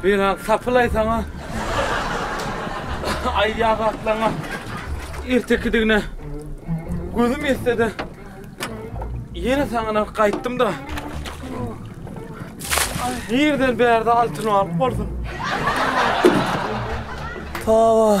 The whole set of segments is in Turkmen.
Beýle sapylaýsaň-a, aýýagy atlaňa ertekidigine gözüm ýetse-de, ýene saňa gaýtdym-da. Nireden bärde altyn alyp bolsun? Hawa.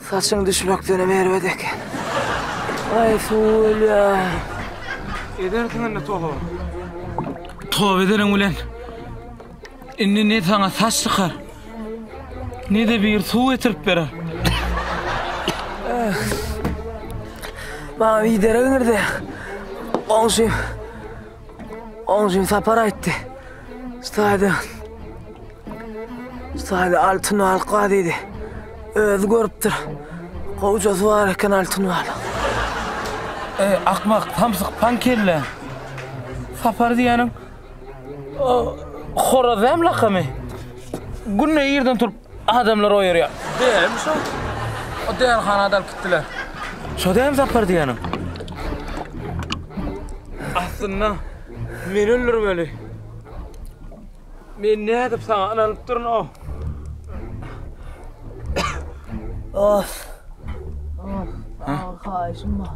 Saçyň düşmekdenem erbet eken. Aý suw ölýär. Edersiň indi toba. Toba edeniň bilen indi ne saňa saç çykar, ne-de biri suw getirip berer. Maňa bir derek iňirdi. Goňşym. Goňşym Sapar aýtdy. Ştaýdan. Saýly altyn al gazydy. Özi görüpdir. Gowjasy bar eken altyn al. Ey, akmak, samsyk, pan kelle. Sapar diýeniň o horaz hem lakamy. Günde ýerden turup adamlar oýarýar. Dämi şo? O däni hana dalyp gitdiler. Şo dämi sapar diýeniň? Aslynda meni öldürmeli. Men nädip saňa ynanyp durun o? Oh. Oh. Haýşym bar.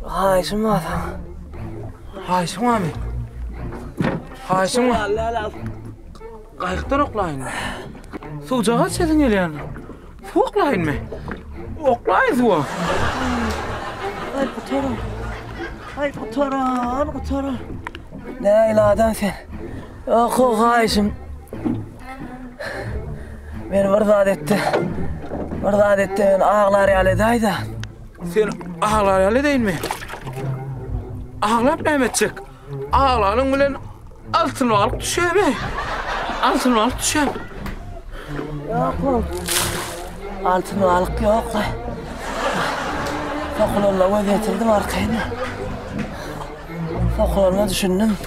Haýşym bar. Haýşym barmy? Haýşym bar. Gaýykdan oklaýyn. Suwjaga çetin gelýän. Suw oklaýynmy? Oklaýyn suwa. Aý gutaran. Aý gutaran, gutaran. Nägile adam sen. Oho haýşym. Men bir zat etdi. Bir zat etdi, men aglar ýaly edäýdi. Sen aglar ýaly edäýinmi? Aglap näme etjek? Aglanyň bilen altyn balyk düşemi? Altyn balyk düşem. Ýok bu. Altyn balyk ýok. Sokulanda göz getirdim arkaýyna. Sokulanda düşündim.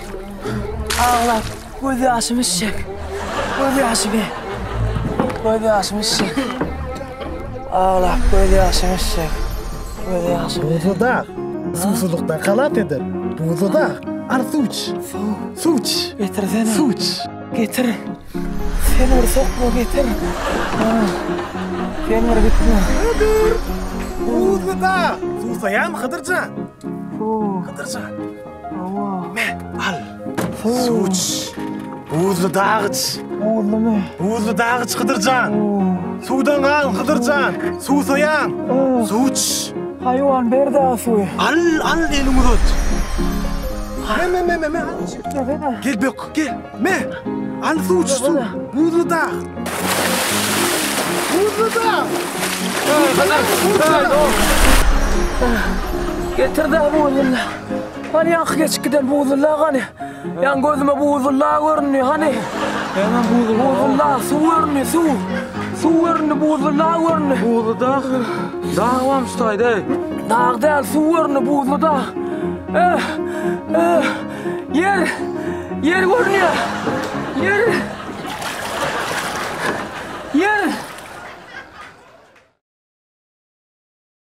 Ağla. Göz ýaşymy içjek. Göz ýaşymy. Göz ýaşymy içjek. Aglap göz ýaşymy içjek. Göz ýaşymy. Buzlu dag. Suwsuzlykdan halas eder. Buzlu dag. Al suw iç. Suw. Suw iç. Getirsene. Suw iç. Getir. Sen bir sokma getir. Ha. Sen bir gitme. Hıdır. Buzlu dag. Susaýam Hydyrjan. Hydyrjan. Al. Suw iç. Buzly dag iç. Buzlumy? Buzly dag iç Hydyrjan. Suwdan gal Hydyrjan. Suwsaýaň. Suw iç. Haýwan berdi suwy. Al, al eliňi uzat. Men, men, men, men, men. Gel bök, gel. Me, al suwçy suw, buzly dag. Buzly dag. Getir de buzly. Hani ýaňky geçip giden buzly dag hani. Ýan gözüme buzly dag göründi hani. Hemen buzly dag. Buzly dag suw göründi suw. Suw göründi buzly dag göründi. Buzly dag. Dag bam şutaýda. Dag däl suw göründi buzly dag. Eh, eh. Ýer! Ýer görünýär! Ýer! Ýer!